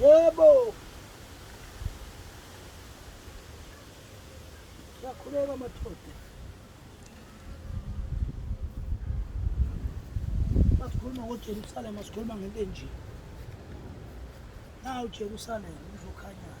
Yebo. Siyakhuleka madoda. Masikhuluma ngoJerusalema sikhuluma ngento enje. Nawu Jerusalema uzokhanyayo.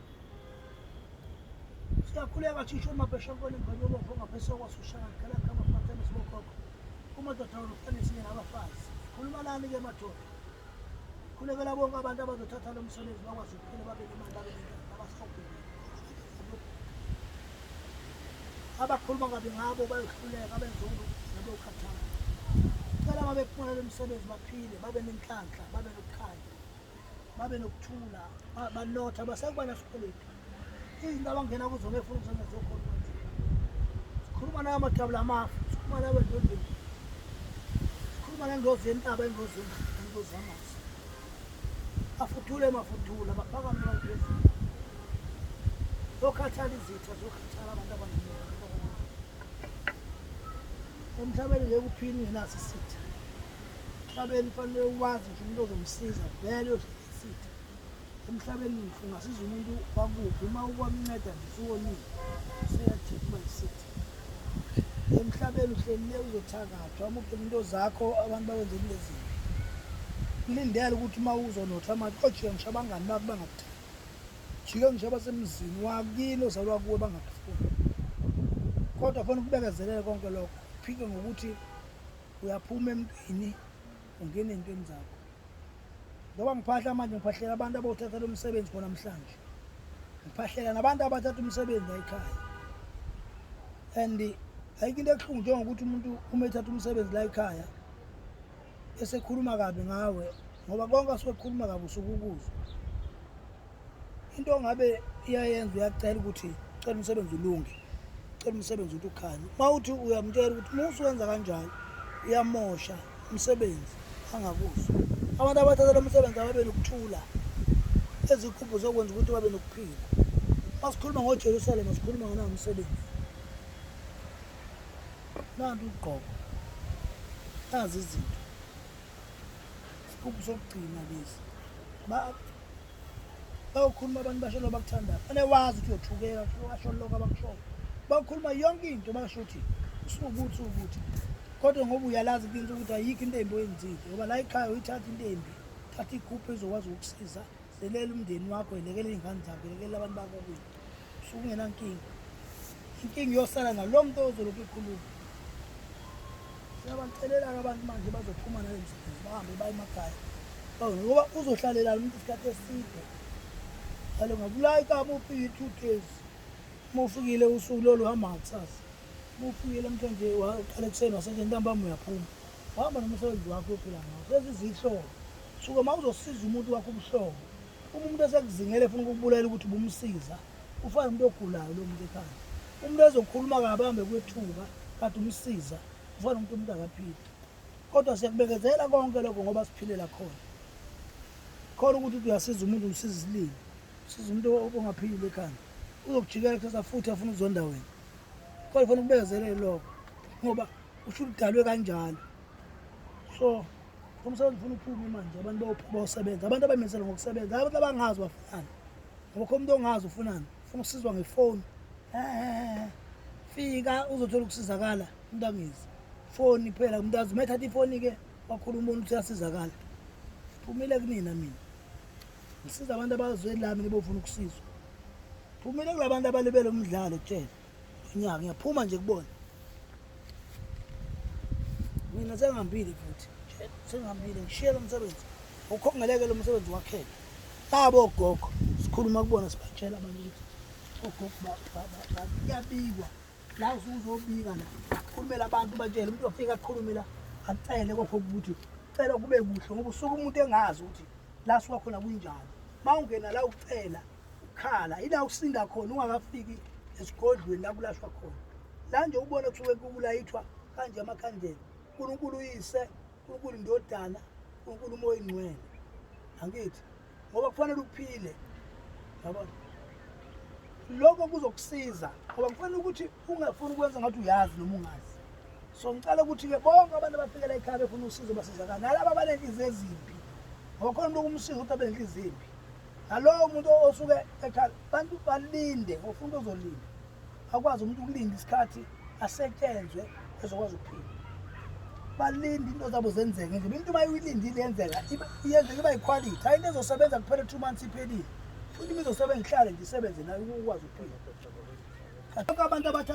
siyakhuleka thisha uma beshakubona ingane yobopho ongapheseka kwasushaka ngicela kama fatene sibokhokho kumadoda wonokufane sinye nabafazi khuluma lani ke madoda khulekela bonke abantu abazothatha lo msebenzi bakwazi ukuphila babe nemali babe nabasihobhile abakhuluma kabi ngabo bayohluleka benze ukuthi nabokhathala cela uma bephumela lo msebenzi baphile babe nenhlanhla babe nokukhanya babe nokuthula banotha basakuba nasikweletu izinto abangena kuzo ngefuna ukuzenza zokhona sikhuluma nayo amadabula amafu sikhuluma nayo endodeni sikhuluma nengozi yentaba ingozi ingozi yamanzi afuthule mafuthula baphakame abantu bezulu zokhathala izitha zokhathala abantu abaningi emhlabeni ngeke uphini ngenasi isitha emhlabeni fanele uwazi nje umuntu ozomsiza vele uzoyisithi emhlabeni ngisho ungasiza umuntu wakuphi uma ukwamnceda nje usuwonile useyathipha isithi emhlabeni uhlelile uzothakathwa amukhe into zakho abantu bakwenzela lezinto kulindele ukuthi uma uzonotha manje ojike ngisho abangani bakho bangakuthandi jike ngisho abasemzini wakini ozalwa kuwe bangakufuni kodwa fona ukubekezelele konke lokho phike ngokuthi uyaphuma emntwini ungena entweni zakho ngoba ngiphahla manje ngiphahlela abantu abawuthatha lo msebenzi khona mhlanje ngiphahlela nabantu abathatha umsebenzi layikhaya and ayikho into ebuhlungu njengokuthi umuntu uma ethatha umsebenzi layikhaya esekhuluma kabi ngawe ngoba konke asuke kukhuluma kabi usuke ukuzwa into ongabe iyayenza uyacela ukuthi cela umsebenzi ulunge cela umsebenzi ukuthi ukhanye uma uthi uyamtshela ukuthi uma usuwenza kanjalo uyamosha umsebenzi angakuzwa abantu abathatha lo msebenzi ababe nokuthula ezikhuphu zokwenza ukuthi babe nokuphila uma sikhuluma ngojerusalema sikhuluma nganawo umsebenzi nanti ugqoko nazi izinto isigubhu sokugcina lesi bayokhuluma abantu basho lo bakuthandayo ane wazi ukuthi uyothukeka asho lokho abakushoyo bayokhuluma yonke into basho ukuthi usukuthi ukuthi kodwa ngoba uyalazi kinto ukuthi ayikho into embi oyenzile ngoba la ikhaya uyithatha into embi thatha ikhuphe ezokwazi ukukusiza Delela umndeni wakho, yelekela iy'ngane zakho, yelekelela abantu bakokwini. Usuke ungenankinga. Inkinga iyosala nalo muntu ozolokhu ekhuluma. Siyabacelela-ke abantu manje bazophuma nale msebenzi bahambe baye emakhaya. Bawu, Ngoba uzohlalelana umuntu isikhathi eside. Kalo ngakulayika muphi i-two days. Uma ufikile usuku lolu hamba ngakusasa. Uma ufikile mthonje uqala ekuseni wasethi ntambama uyaphuma. Wahamba nomsebenzi wakho ophila ngawo. Senza izihlobo. Suke uma uzosiza umuntu wakho ubuhlobo. Uma umuntu esekuzingela efuna ukukubulala ukuthi ubumsiza, ufana umuntu ogulayo lo muntu ekhaya. Umuntu ezokhuluma kabambe kwethuka kade umsiza, ufana umuntu umuntu akaphili. Kodwa siyakubekezela konke lokho ngoba siphilela khona. Khona ukuthi uyasiza umuntu umsiza isililo. Siza umuntu ongaphilile ekhaya. Uzokujikela kuthatha futhi afuna ukuzonda wena. Kodwa ufuna ukubekezelele lokho ngoba usho udalwe kanjalo so umsebenzi ufuna uphume manje abantu bayophuma bayosebenza abantu abamenzela ngokusebenza abantu abangazi bafunani ngoba kho umuntu ongazi ufunani ufuna ukusizwa ngefoni fika uzothola ukusizakala umuntu angizi foni phela umuntu azi uma ethatha ifoni-ke wakhuluma umuntu ukuthi uyasizakala phumile kunina mina ngisiza abantu abazweni lami nebofuna ukusizwa phumile kula bantu abalibele umdlalo tshela Ngiya ngiyaphuma nje kubona. Mina sengihambile futhi. Sengihambile ngishiye lo msebenzi. Ukhongeleke lo msebenzi wakhele. Labo gogo sikhuluma kubona sibatshela abantu ukuthi ogogo ba- ba- ba- ba- kuyabikwa. La usuzobika la. Khulumela abantu batshele umuntu ofika akhulume la acele kokho ukuthi cela kube kuhle ngoba usuke umuntu engazi ukuthi la suka khona kunjani. Mawungena la ucela ukukhala ila usinda khona ungakafiki esigodlweni la kulashwa khona la nje ubona kusuke kulayithwa kanje amakhandlela unkulunkulu uyise unkulunkulu indodana unkulunkulu umoya ingcwele angithi ngoba kufanele uphile yabona lokho kuzokusiza ngoba kufanele ukuthi ungafuni ukwenza ngathi uyazi noma ungazi so ngicela ukuthi-ke bonke abantu abafikela ekhaya befuna usizo basizakala nalaba abanenhliziyo ezimbi ngokhona umuntu okumsiza ukuthi abe nenhliziyo embi nalowo muntu osuke ekhaya bantu balinde ngofuna into ozolinda akwazi umuntu ukulinda isikhathi asetshenzwe ezokwazi ukuphila balinde into zabo zenzeke nje into uma uyilindile yenzeka iyenzeka iba yikhwalithi hayi into ezosebenza kuphela two months iphelile Futhi ngizosebenza ngihlale ngisebenze naye ukwazi ukuphila. Abantu abathatha